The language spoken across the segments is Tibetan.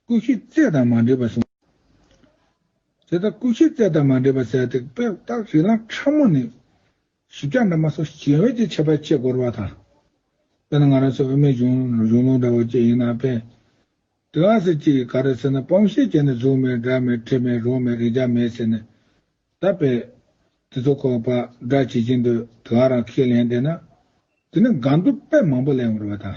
སྐུ་བཞི་རྩེ་དང་མ་འདྲེས་པར་བཟུང། དེ་ལྟར་སྐུ་བཞི་རྩེ་དང་མ་འདྲེས་པར་བྱས་ཏེ་པད་སྟག་རི་ལངས་ཕྲ་མོ་ནས། བཞི་བརྒྱ་འདབ་མ་སོགས་ཞལ་འོད་ཀྱི་ཁྱད་པར་ཆེས་བསྐོར་བ་དང། དཔེར་ན་ང་རང་ཚོའི་དབུ་མའི་གཞུང་ལུགས་འདྲ་བོ་བཅས་ཡིན་ན་དཔེ་དེ་ལ་ཟེར་གྱི་ག་རེ་ཟེར་ན་སྤོམ་ཤེལ་བྱས་ནས་གཟུགས་མེད་སྒྲ་མེད་དྲི་མེད་རོ་མེད་རེག་བྱ་མེད་ཟེར་ནས། ད་དཔེ་དེ་ཚོ་ཁོ་པ་སྒྲ་ཇི་བཞིན་དུ་དེ་ག་རང་ཁས་ལེན་བསྡད་ན། དེ་ནི་དགའ་འདུག་དཔེ་མང་པོ་ལས་འོང་བ་དང།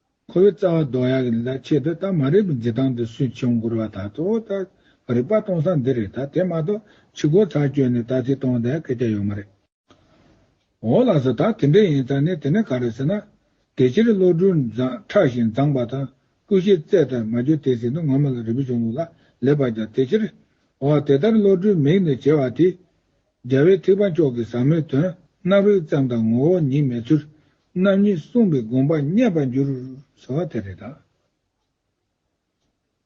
ཁོ་བོའི་རྩ་བ་རྡོ་ཡག་གི་ལ་ཆེད་དུ་ད་མ་རེད་པའི་འཛི་ཐང་དུ་སུས་ཆོས་འགུར་བ་ད་ཚོ་ད་རིག་པ་གཏོང་ས་འདི་རེད་ད་དེ་མ་གཏོགས་ཕྱི་སྒོ་ཚར་བསྐྱོད་ནས་ད་ཚིག་གཏོང་དེ་སྐད་ཆ་ཡོད་མ་རེད། འོ་ལགས་སོ་ད་དེ་འདྲ་ཡིན་ཙང་ནི་དེ་ནི་ག་རེད་ཟེར་ན། དེ་ཕྱིར་བློ་གྲོས་མཛངས་ཁྲག་བཞིན་མཛངས་པ་དང་སྐུ་བཞི་བརྩེགས་དར་མ་གྱོན་དེ་ཟིན་དུ་ངོ་མ་ལ་རིག་པ་བྱུང་ལུགས་ལ་ལེ་བར་ཀྱང་དེ་ཕྱིར། འོ་དེ་ལྟར་བློ་གྲོས་མིག་ནས་བྱེ་བ་དེ། རྒྱལ་བའི་ཐེག་པ་མཆོག་གི་ཟབ་མོའི་དོན། རྣ་བས་བརྩམས་དང་ངོ་བོ་ཉིད་མེད་ཚུལ། རྣམ་གཉིས་གསུངས་པས་དགོངས་པ་རྙེད་པར་འགྱུར། ཟེར་བ་དེ་རེད་ད།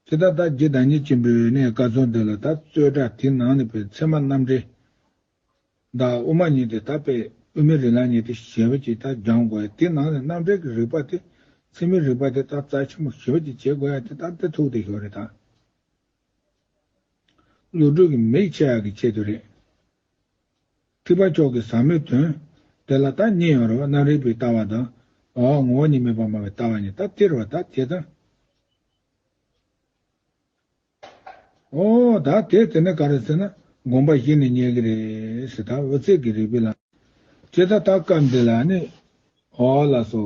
དེ་ལྟར་བདག་བསྐྱེད་བདག་ཉིད་ཆེན་པོའི་གནས་བཀའ་སྩོལ་འདི་ལ་ད་གཙོས་སྒྲ་དེ་ནང་ནས་པའི་མཚན་མ་རྣམ་འགྲེལ། བདག་དབུ་མ་ཉིད་དེ་ད་པས་དབུས་མི་རིགས་ལ་ཉིད་དེ་ཞེས་པ་ཅིག་ད་སྦྱང་དགོས་ཡ་དེ་ནང་ནས་རྣམ་འགྲེལ་གྱི་རིགས་པ་དེ་ཚིག་མི་རིགས་པ་དེ་ད་རྩ་ཆེན་པོ་ཞེས་པ་ཅིག་བྱེད་དགོས་ཡ་དེ་ད་དེ་ཐུགས་བདེ་ཞོར་རེད་ད། བློ་གྲོས་ཀྱི་མིག་ཆེ་ཡག་གི་ཆེད་དུ་རེད། ཁྲི་པ་མཆོག་གི་ཟབ་མོའི་དོན། དེ་ལ་ད་གཉིས་ཡོད་རེད་བ་རྣམ་རིག་པའི་ལྟ་བ་དང། འོ་ངོ་བ་གཉིས་མེད་པར་སྨྲ་བའི་ལྟ་བ་གཉིས་ད་སྟེར་བ་ད་དེ་དང། འོ་ད་དེ་དེ་ནི་ག་རེད་ཟེར་ན་དགོངས་པ་གཞི་ནས་རྙེད་གི་རེད་ཟེར་ད་འོ་ཚིག་གི་རིག་པའི་ལམ། ཇི་ལྟར་ད་སྐབས་འདི་ལ་ནི། འོ་ལགས་སོ།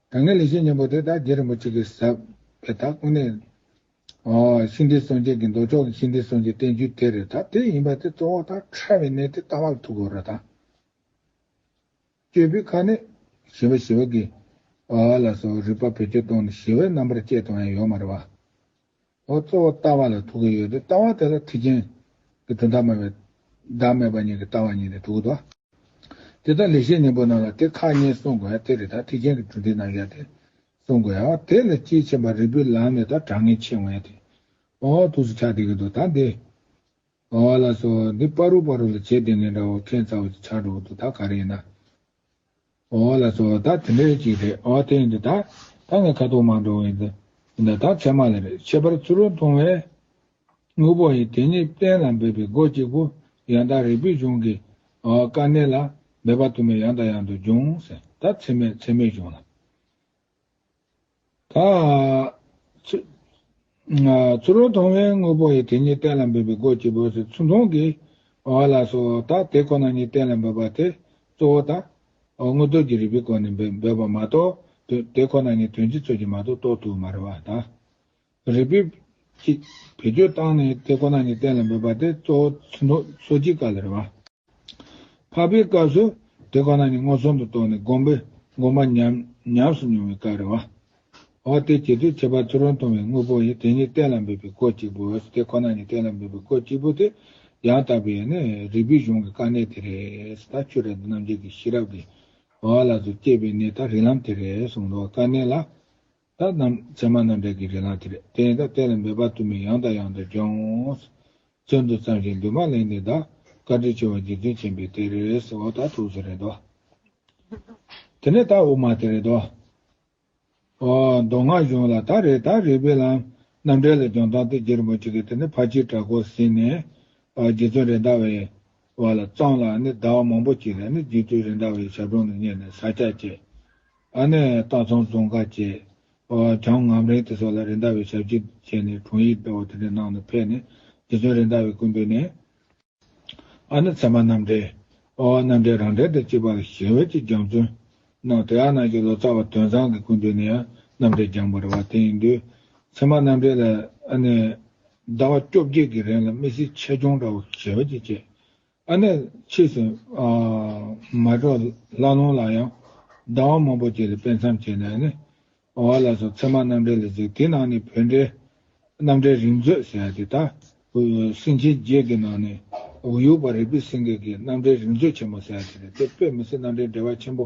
ད་སྔའི་ལས་བྱེད་གཉན་པོ་དེ་དག་རྗེ་རིན་པོ་ཆེ་གི་ཟབ་པའི་དག་ཀུན་ནས། ཤིང་རྟའི་སངས་རྒྱས་ཀྱི་མདོ་ཕྱོགས་ཀྱི་ཤིང་རྟའི་སངས་རྒྱས་བསྟན་བཅོས་དེ་རེད་ད་དེ་ཡིན་པ་དེ་གཙོ་བོ་དག་ཕྲ་བའི་གནད་དེ་ལྟ་བར་ཐུག་གོ་ར་དང། སྤྱོད་པའི་ཁ་ནས། ཞི་བ་ཞི་བ་གི། ལ་སོགས་རིགས་པ་བེད་སྤྱོད་གཏོང་ནས་ཞི་བའི་རྣམ་པར་བཅད་དང་ཡང་ཡོད་མ་རེད་བ། ཨོ་གཙོ་བོ་ལྟ་བ་ལ་དྲུག་གི་ཡོད་དེ་ལྟ་བ་དེ་ལ་ཐེག་ཆེན་གྱི་དོན་བདག་མེད་པའི་བདག་མེད་པ་ཉིད་ཀྱི་ལྟ་བ་ཉིད་ནི་དྲུག་གོ། དེ་ལྟར་ལེགས་བཤད་ཉིན་པོ་རྣམས་ལ་དེ་ཁག་གཉིས་གསུངས་དགོས་ཡང་དེ་རེ་དག་ཐེག་ཆེན་གྱི་གྲུབ་མཐའི་རྣམ་གཞག་སྟེ་གསུངས་དགོས་ཡང་དེ་ལས་དཔྱིས་ཕྱིན་པ་རིལ་བུའི་ལམ་ནི་དང་གྲངས་ངེས་ཆེ་ངེས་ཏེ། ཨོ་ཐུགས་སུ་ཆགས་དེ་གི་འདུག་ད་འདི། ཨོ་ལ་སོགས་འདི་པ་རུ་པ་རུ་ལ་བྱེད་དེ་ངེས་འདྲ་བ་མཁྱེན་རྩ་བ་ཅིག་ཆགས་འགྲོ་བ་འདུག་ད་ག་རེ་ཡིན་ན། ཨོ་ཨོ་ལ་སོགས་དག་དེ་འདྲའི་གཅིག་རེད་ཨོ་དེ་ཡིན་དུས་ད་ད་ངས་ཁ་དོག་མང་འགྲོ་བ་ཡིན་དུས་ཡིན་དུས་ད་ཚད་མ་ལ་རེད་ཁྱད་པར་ཚུར་རོལ་མཐོང་བས། དངོས་པོ་ཡིན་དེ་ཉིད་གཏན་ལ་འབེབས་པའི་སྒོ་གཅིག་པུ་ཡང་དག་རིག་པའི་གཞུང་གི་ཨོ་ཨོ་དཀའ་གནད་ལ་འབད་པ་དུ་མས་ཡང་དང་ཡང་དུ་འབྱུང་ཟིན་ད་ཚད་མས་ཚད་མས་བྱུང་ལ། ཚུར་རོལ་མཐོང་བའི་དངོས་པོ་ཡི་དེ་ཉིད་གཏན་ལ་འབེབས་པའི་སྒོ་བཅུ་པོས་སོ་ཚུལ་མཐོང་གི། བ་ལ་སོགས་བ་དག་དེ་ཁོ་ན་ཉིད་གཏན་ལ་འབེབས་པ་དེ་གཙོ་བོ་དང། དངོས་སྟོབས་ཀྱི་རིགས་པའི་སྒོ་ནས་འབེབས་པ་མ་གཏོགས། དེ་ཁོ་ན་ཉིད་དོན་སྤྱི་ཚོད་ཀྱི་མ་གཏོགས་རྟོགས་ཐུབ་མ་རེད་བ་དང། རིགས་པས་ཅིག་བེད་སྤྱོད་བཏང་ནས་དེ་ཁོ་ན་ཉིད་གཏན་ལ་འབེབས་པ་དེ་གཙོ་བོ་ཚུལ་མཐོང་སོ་སྐྱེའི་སྐབས་ལ་རེད་བ། འཕགས་པའི་སྐབས་སུ་དེ་ཁོ་ན་ཉིད་སྔོ་ཚོན་དུ་རྟོགས་ནས་བསྒོམས་པས་བསྒོམ་པ་ཉམས་སུ་མྱོང་བའི་སྐབས་རེ་བ། འོ་དེ་ཇི་སྟེ་བྱེད་པ་ཚུར་རོལ་མཐོང་བའི་དངོས་པོ་ཡི་དེ་ཉིད་གཏན་ལ་འབེབས་པའི་གོ་གཅིག་པུ་འོས་དེ་ཁོ་ན་ཉིད་གཏན་ལ་འབེབས་པའི་གོ་གཅིག་པུ་དེ་ཡང་དག་པའི་ནི་རིགས་པའི་གཞུང་གི་དཀའ་གནད་དེ་རེད་ད་ཁྱོད་རེ་ད་རྣམ་འབྱེད་ཀྱི་ཤེས་རབ་ཀྱིས་འོ་ལ་ཚུར་སྐྱེས་པའི་གནད་ད་རིགས་ལམ་དེ་རེད་གསུངས་འདུག་དཀའ་གནད་ལ་ད་རྣམས་མཚན་མ་རྣམ་པའི་གི་རེ་ལངས་དེ་རེད་བསྟན། ད་བསྟན་ལ་འབད་པ་དུ་མས་ཡང་དང་ཡང་དུ་སྦྱོངས། བཙོན་དུ་བརྩམས་ཤིང་འདུན་མ་གླེང་ནས་བདག། བཀའ་དྲིན་ཆེ་བ་འཇིག་རྟེན་མཁྱེན་པའི་དེ་རེད། འོ་ད་ཐུགས་སུ་རེད་དོ། དེ་ནས་ད་དབུ་མ་དེ་རེད་དོ། འོ། མདོ་སྔགས་གཞུང་ལ་ད་རེད་ད་རིགས་པའི་ལམ། རྣམ་འགྲེལ་ལ་སྦྱོང་སྟངས་དེ་རྗེ་རིན་པོ་ཆེ་གིས་དེ་ནས་ཕ་སྤྱིར་གྲགས་སྐོར་ཟིན་ནས། རྗེ་བཙུན་རེད་མདའ་བའི། བ་ལ་བརྩམས་ལ་ནི་ཟླ་བ་མང་པོ་གྱིས་ལ་ནི་རྗེ་བཙུན་རེད་མདའ་བའི་ཞབས་དྲུང་ནས་གཉེར་ནས་ཟ་བཅའ་བཅས། ད་ནས་སྟག་ཚང་རྫོང་དཀར་བཅས། བྱང་ངམ་རིང་དེ་སོགས་ལ་རེ་འདའ་བའི་ཞབས་ཀྱིས་བཅད་ནས་དྲུང་ཡིག་སྦེལ་བ་དེ་འདྲའི་ནང་དུ་ཕེབས་ནས་རྗེ་བཙུན་རེ་འདའ་བའི་སྐུ་འབུལ་ནས། ཨ་ནི་ཚད་མ་རྣམ་འགྲེལ། རྣམ་འགྲེལ་རང་འགྲེལ་དང་བཅས་པ་ལ་ཞལ་འོད་ཀྱི་སྦྱང་བརྩོན། གནང་དེ་ཨ་ནག་གི་ལོ་ཙཱ་བ་དོན་བཟང་གི་སྐུ་འབུལ་ནས་ཡང་རྣམ་འགྲེལ་སྦྱངས་པར་བ་དེ་ཡིན་དུས། ཚད་མ་རྣམ་འགྲེལ་ལ་ཨ་ནི། ཟླ་བ་བཅོ་བརྒྱད་ཀྱི་རིང་ལ་དམིགས་བསལ་ཆེད་སྦྱོང་འདྲ་བོ་ཞལ་འོད་ཀྱིས་བཅད། ཨ་ནེ་ཕྱིས་སུ། མ་གྲོགས་ལྷ་ལུང་ལ་ཡང། ཟླ་བ་མང་པོ་བརྒྱད་རེ་སྤེལ་མཚམས་བྱས་ནས་ནི། བ་ལ་སོགས་ཚད་མ་རྣམ་འགྲེལ་ལ་གཟིགས་དེའི་ནང་ནས་བོད་འགྲེལ། རྣམ་འགྲེལ་རིང་མཛོད་ཟེར་དེ་དག། སེང་ཆེན་བརྒྱད་ཀྱི་ནང་ནས། འུ་ཡུག་པ་རིག་པའི་སེང་གེ་ཀྱིས་རྣམ་འགྲེལ་རིང་མཛོད་ཆེན་མོ་ཟེར་དེ་རེད་དེ་དཔེ་མི་སྲིད་རྣམ་འགྲེལ་འགྲེལ་བ་ཆེན་པོ།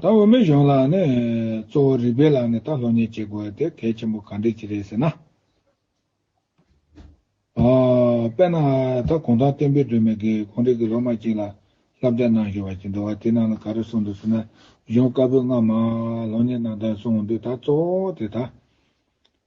ད་འོས་མི་གཞུང་ལ་ནི་གཙོ་བོ་རིགས་པའི་ལམ་ནས་ད་ལྷོད་གཉེར་བྱེད་དགོས་ཡོད་དེ་གལ་ཆེན་པོ་གང་འདྲས་ཀྱི་རེད་ཟེར་ན། དཔེར་ན་ད་གུང་ཐང་བསྟན་འཕེལ་སྒྲོལ་མས་སྒེའུ་ཁུང་རིགས་ཀྱི་སློབ་མ་ཅིག་ལ་བསླབ་བྱ་གནང་བཞིན་པ་ཞིག་འདུག་བ་དེ་རྣམས་ལ་ག་རེ་གསུངས་འདུག་ཟེར་ན་གཞུང་བཀའ་པོད་ལྔ་མ་ལྷོད་གཉེར་གནང་དོན་གསུངས་འདུག་ད་གཙོ་བོ་དེ་ད་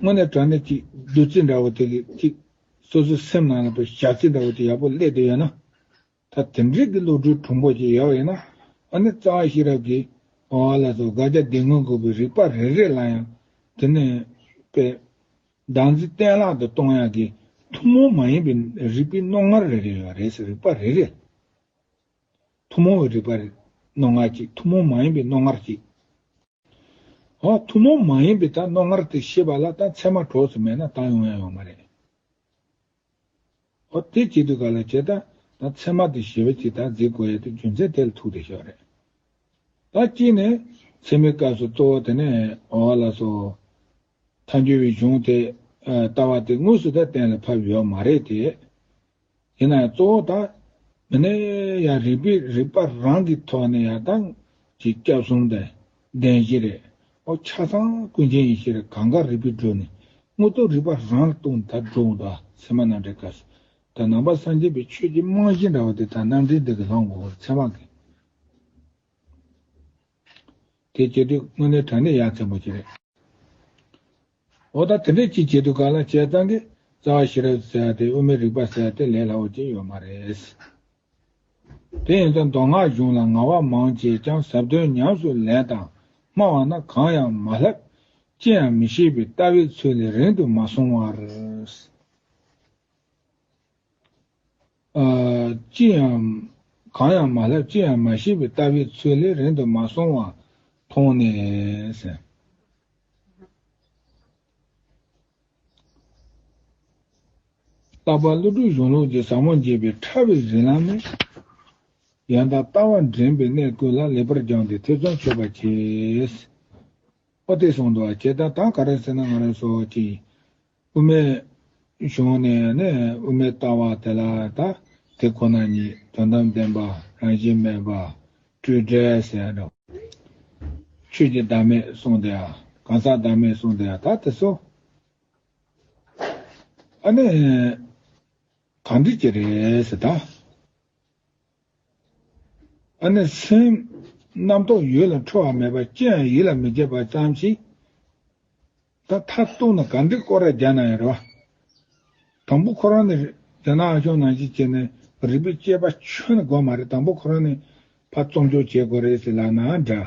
དངོས་གནས་དྲང་གནས་ཅིག་བདུད་རྩི་འདྲ་བོ་དེ་གིས་ཅིག། སོ་སོའི་སེམས་ནང་ལ་བོད་ཞག་རྩི་འདྲ་བོ་དེ་ཡག་པོ་སླེབས་དུ་ཡོད་ན། ད་དེང་རིགས་ཀྱི་བློ་གྲོས་གྲུང་པོ་ཅིག་ཡོད་ཡོད་ན། ཨ་ནི་རྩ་བ་ཤེས་རབ་ཀྱིས་བ་བ་ལ་སོགས་དགག་བྱ་བདེན་དངོས་དགོས་པའི་རིགས་པ་རེ་རེ་ལ་ཡང་དེ་ནས་པའི། སྡང་རྩི་གཏན་བརླག་ཏུ་གཏོང་ཡག་གི་ཐུན་མོང་མ་ཡིན་པའི་རིགས་པའི་རྣོ་ངར་རེ་རེ་ཡོད་རེད་ཟེར་རིགས་པ་རེ་རེ། ཐུན་མོང་བའི་རིགས་པ་རེ་རྣོ་ངར་ཅིག་ཐུན་མོང་མ་ཡིན་པའི་རྣོ་ངར་ཅིག། འོ། ཐུན་མོང་མ་ཡིན་པའི་ད་རྣོ་ངར་དེ་ཤེས་པ་ལ་ད་མཚན་མ་གྲོགས་སུ་མེད་ན་ད་ཡོང་ཡང་ཡོང་མ་རེད། འོ། དེ་བྱེད་དུས་ག་ལ་བྱེད་ད། ད་མཚན་མ་དེ་ཞི་བ་གཅིག་ད་གཟིགས་དགོས་ཡ་དེ་རྒྱུ་མཚན་དེ་ལ་ཐུག་དེ་ཤོག་རེད། ད་གཅིག་ནས། མཚན་མའི་སྐབས་སུ་གཙོ་བོ་དེ་ནས་འོ་བ་ལ་སོ། མཐའ་འགྱུར་བའི་གཞུང་དེ། ལྟ་བ་དེ་དངོས་སུ་ད་གཏན་ལ་ཕབ་ཡོད་མ་རེད་དེ། ཡིན་ན་ཡང་གཙོ་བོ་དང། མི་ནི་ཡང་རིག་པའི་རིག་པ་རང་གི་ཐོག་ནས་ཡང་དང། གི་སྐྱབས་གསུམ་དང། བདེན་བཞི་རེད། ཨོ་ཆ་ཚང་ཀུན་མཁྱེན་ཡེ་ཤེས་རེད་གང་ག་རིག་པའི་སྒྲོས་ནས། དངོས་གཙོ་རིག་པ་རང་ལ་ལྟུང་ད་སྒྲོ་འོང་ད་ཚད་མ་རྣམ་འགྲེལ་དཀའ་སེ། ད་ནང་པ་སངས་རྒྱས་པའི་ཆོས་ཀྱི་རྨང་གཞི་འདྲ་བ་དེ་དག་རྣམ་འགྲེལ་འདི་གི་ལྷག་མགོ་བར་ཚད་མ་གི། དེ་བྱེད་དུས་དངོས་གནས་དྲང་གནས་ཡ་མཚན་པོ་ཅིག་རེད། འོ་ད་དེ་འདྲས་ཅིག་བྱེད་དུ་ག་ལ་བྱས་གཙང་གི་རྩ་བ་ཤེས་རབ་ཟེར་དེ་དབུ་མའི་རིགས་པ་ཟེར་དེ་ལས་སླ་བོ་ཅིག་ཡོད་མ་རེད། དེ་ཡིན་ད་མདོ་སྔགས་གཞུང་ལ་ང་བ་མང་བྱས་ཀྱང་ཟབ་དོན་ཉམས་སུ་ལེན་དང་སྨྲ་བ་ན་གང་ཡང་མ་ལྷག། ཅི་ཡང་མི་ཤེས་པའི་ལྟ་བའི་ཚུལ་ལས་རིང་དུ་མ་སོང་བར། ཅི་ཡང། གང་ཡང་མ་ལྷག་ཅི་ཡང་མ་ཤེས་པའི་ལྟ་བའི་ཚུལ་ལས་རིང་དུ་མ་སོང་བ་མཐོང་ནས། རྟག་པར་བློ་གྲོས་གཞུང་ལུགས་ཀྱི་ཟབ་མོ་འབྱེད་པའི་ཕྲ་བའི་རིག་ལམ་ནི། ཡང་དག་ལྟ་བ་འདྲེན་པའི་གནས་ཀུན་ལ་ལེགས་པར་སྦྱངས་ཏེ་ཐེ་ཚོམ་ཆོད་པར་བྱས། ཨོ་དེ་སོང་དུ་བ་ཁྱེད་ད་ད་ག་རེ་ཟེར་ན་ང་རེ་སོ་ཅི། དབུ་མའི་གཞུང་ནས་ནི་དབུ་མའི་ལྟ་བ་དེ་ལ་དག་དེ་ཁོ་ན་ཉིད་དོན་དམ་བདེན་པ་རང་བཞིན་མེད་པ་སྤྲོས་བྲལ་ཟེར་རོ། ཆོས་ཀྱི་བདག་མེད་གསུངས་དེ་གང་ཟག་བདག་མེད་གསུངས་དེ་དག་དེ་སོ། ཨ་ནི་གང་འགྲིག་གི་རེད་ད། ཨ་ནི་སེམས། རྣམ་རྟོག་ཡུལ་ལ་འཕྲོ་བ་མེད་པ་ཅི་ཡང་ཡིད་ལ་མི་བྱེད་པ་ཙམ་ཞིག་ད། མཐར་གཏུགས་ན་ག་འདི་ཀོ་ར་རྒྱ་ནང་ཡིན་རེད་བ། དང་པོ་ཁོ་རང་ནི་རྒྱ་ནག་ཨ་ཞོག་ནང་བཞིན་བྱས་ནས་རིག་པའི་དཔྱད་པ་ཆོད་ན་དགོས་མ་རེད་དང་པོ་ཁོ་རང་ནི་ཕ་རྩོམ་སྦྱོར་བྱེད་དགོས་རེད་ཟེར་ལབ་ན་འདྲ།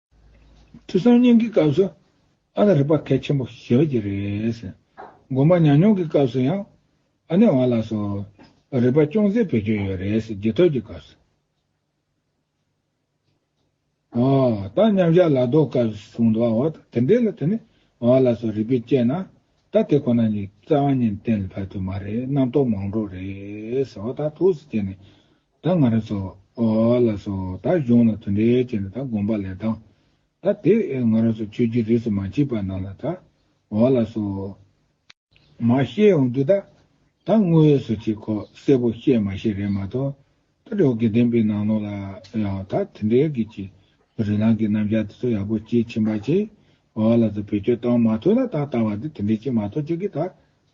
ཁྲི་སང་ཉིན་གྱི་སྐབས་སུ་ཨ་ནེ་རིག་པ་གལ་ཆེན་པོ་ཞེས་པ་གྱི་རེད། དགོན་པ་ཉམས་མྱོང་གི་སྐབས་སུ་ཡང་ཨ་ནེ་བ་ལགས་སུ་རིག་པ་ཅུང་ཟད་བེད་སྤྱོད་ཡོད་རེད་རྗེས་ཐོག་གི་སྐབས་སུ། ད་མཉམ་བཞག་ལ་ལྡོག་སྐབས་གསུངས་འདུག་བ་དེ་འདྲས་ལ་དེ་ནས་བ་ལགས་སུ་རིག་པས་དཔྱད་ན་ད་དེ་ཁོ་ན་ཉིད་རྩ་བ་ཉིན་གཏན་ལ་ཕབ་ཐུབ་མ་རེད་རྣམ་རྟོག་མང་དྲོ་རེད་ཟེར་བ་དང་ཐུགས་སུ་བཅད་ནས། ད་ང་རང་ཚོ། ལ་སོ། ད་གཞུང་ལ་དོན་འབྲས་བྱས་ན་ད་དགོངས་པ་ལས་ལྡང། ད་དེ། ང་རང་ཚོ་ཆོས་བརྒྱུད་རིས་སུ་མ་མཆིས་པ་རྣམས་ལ་ད། ལ་སོ། མ་ཤེས་འོང་དུས་ད། ད་དངོས་ཡོད་སུ་ཅིག་ཁོ་གསལ་པོ་ཤེས་མ་ཤེས་རེད་མ་གཏོགས། ད་དྲི་བ་དགེ་ལྡན་པའི་ནང་ལོགས་ལ་ཡང་ད་དེ་འདྲའི་གི་ཅི། རི་ལང་གི་རྣམ་བཞག་དེ་ཚོ་ཡག་པོ་ཅིག་ཕྱིན་པ་ཅིག། ལ་སོ་བེད་སྤྱོད་བཏང་མ་ཐུབ་ན་ད་ལྟ་བ་འདི་དེ་འདྲའི་ཅིག་མ་གཏོགས་ཅིག་གིས་ད།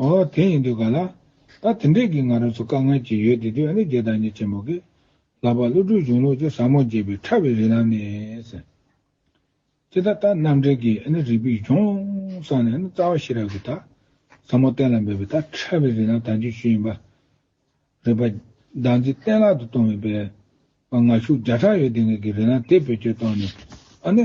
ཨོ་དེ་ཡིན་དུས་ག་ལ། ད་དེ་འདྲས་ཀྱི་ང་རང་ཚོ་དཀའ་ངལ་གྱི་ཡོད་དེ་དུས་ཨ་ནེ་རྒྱལ་དང་གཉིས་ཆེན་མོ་གི། ལག་པ་བླུགས་དྲུག་གཞུང་ལུགས་ཀྱི་ཟབ་མོ་རྒྱས་པའི་ཕྲ་བའི་རིགས་ལམ་ནས། ཅི་ད་ལྟ་རྣམ་འགྲེལ་གྱི་ཨ་ནེ་རིགས་པའི་གཞུང་བསྲངས་ནས་ཨ་ནེ་རྩ་བ་ཤེས་རབ་ཀྱི་ད་ཟབ་མོ་གཏན་ལ་འབེབས་པའི་ད་ཕྲ་བའི་རིགས་ལམ་དང་རྒྱུན་ཞུགས་ཡིན་པ། རིགས་པ། བདག་འཛིན་གཏན་ལག་ཏུ་གཏོང་བའི་པའི། པ་ངར་ཤུགས་བརྒྱ་ཕྲག་ཡོད་དེ་ངེད་ཀྱི་རིགས་ལམ་དེ་བེད་སྤྱོད་གཏོང་ནས་ཨ་ནེ།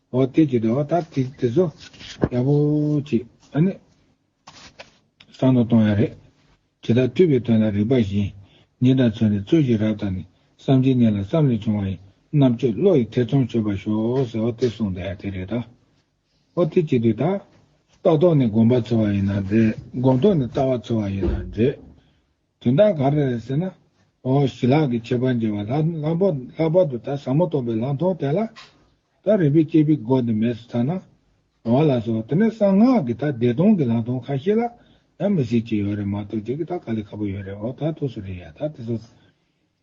འོ་སྟེ་ཅི་སྟེ་འོ་ད་དེ་ཚོ་རྒྱལ་པོ་གཅིག་ཨ་ནི་གསང་དུ་གཏོང་ཡ་རེད། ཇི་ལྟར་སྤྲུལ་པའི་དོན་ལ་རིགས་པ་བཞིན་ཉིད་དང་མཚོན་ཏེ་རྩོད་ཀྱི་རབས་དང་ནི་བསམ་གྱི་གནས་ལ་བསམ་ལས་བྱུང་བ་ཡི་རྣམ་དཔྱོད་བློ་ཡི་ཐེ་ཚོམ་ཆོད་པར་ཤོག་ཟེར་འོ་སྟེ་གསུངས་ཏེ་དེ་རེད་ད། འོ་སྟེ་ཅི་སྟེ་ད། ལྟ་རྟོག་ནི་སྒོམ་པ་ཚོལ་བ་ཡིན་ན་འདྲེས་སྒོམ་རྟོག་ནི་ལྟ་བ་ཚོལ་བ་ཡིན་ན་འདྲེས། དོན་དག་ག་རེ་རེད་ཟེར་ན། ཨོ་ཞི་ལགས་ཀྱིས་ཁྱད་པར་འབྱེད་པ་ལྷག་པར་དུ་ད་ཟབ་མོ་རྟོགས་པའི་ལམ་ཐོག་དེ་ལ། ད་རིག་པའི་སྐྱེས་པའི་སྒོ་དེ་མེད་སོ་ཚར་ན། རོང་བ་ལགས་སོ་དེ་ནས་གསང་སྔགས་ཀྱི་ད་བདེ་སྟོང་གི་ལམ་ཐོག་ཁ་ཤས་ལ་ཡང་མི་སྲིད་ཅེས་ཡོད་རེད་མ་གཏོགས་རྒྱུ་གི་ད་ག་ལས་ཁག་པོ་ཡོད་རེད་འོ་ད་ཐུགས་སུ་རེད་ཡ་ད་དེ་ཚོ།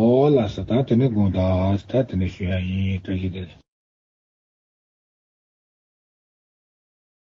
ཨོ་ལ་ས་ད་དེ་ནི་དགོངས་དག་ད་དེ་ནི་ཞུ་ཡག་ཡིན་བཀྲ་ཤིས་བདེ་ལེགས།